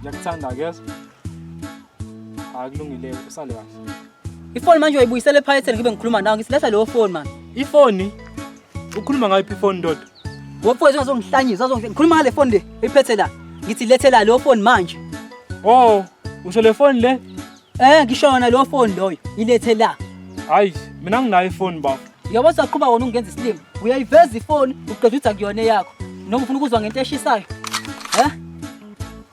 Ngiyakuthanda kuyeza. Hayi kulungile usale kahle. Ifoni manje uyibuyisele ephaketheni ngibe ngikhuluma nawe ngisiletha leyo foni manje. Ifoni? Ukhuluma ngayiphi ifoni ndoda? Wofowethu ungazongihlanyisa, uzongihlanyisa. Ngikhuluma ngale foni le, uyiphethe la. Ngithi lethela leyo foni manje. Oh, usho le foni le? Eh ngisho yona lo phone loyo ilethe la. Hayi mina nginayo ifoni bafo. Yabo saqhuba wona ungenza isilima. Uyayiveza ifoni uqeda uthi akuyona yakho. Noma ufuna ukuzwa ngento eshisayo. Eh?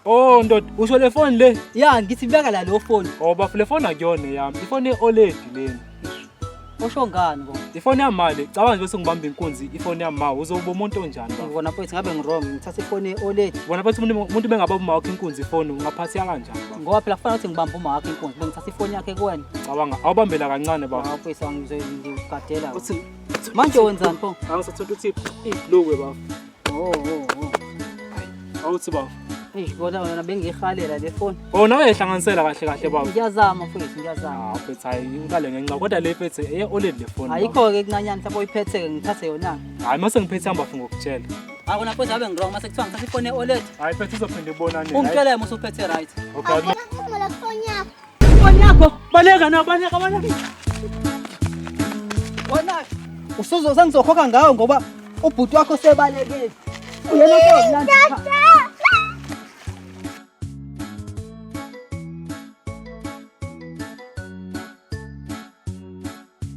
Oh ndoda usho le phone le. Ya ngithi beka la lo phone. Oh bafo le phone akuyona yami. Ifoni eOLED lena. Usho ngani bo? Ifoni yami mali, cabanga nje bese ngibamba inkunzi ifoni yami ma, uzoba umuntu onjani ba? Ngibona mfethu ngabe ngirong ngithatha ifoni e-OLED Bona bathi umuntu umuntu bengaba uma wakhe inkunzi ifoni, ungaphatheka kanjani ba? ngoba phela kufanele ukuthi ngibambe uma wakhe inkunzi bengithatha ifoni yakhe kuwena. Cabanga, awubambela kancane ba. Hawu mfethu angizoyigadela. Uthi Manje wenzani pho? angisathola ukuthi iblue ba. Oh, oh, oh. Awuthi baba. Eish kodwa wena bengiyihalela le phone. Oh nawe ehlanganisela kahle kahle baba. Ngiyazama mfowethu ngiyazama. Ah mfethu hayi ngikale ngenxa kodwa le mfethu eye oled le phone. Ayikho ke kuncanyana mhlawumbe uyiphethe ke ngithathe yona. Hayi mase ngiphethe hamba funga ukutshela. Akona mfowethu abe ngirong mase kuthiwa ngithathe ifone oled. Hayi mfethu uzophinde ibonane. Ungitshela yena usuphethe right. Okay. Aphela kuphumula kufoni yakho. Bonyako, baleka na, baleka, baleka. Wena usuzo sengizokhokha ngawo ngoba ubhuti wakho sebalekile. Uyena kodwa.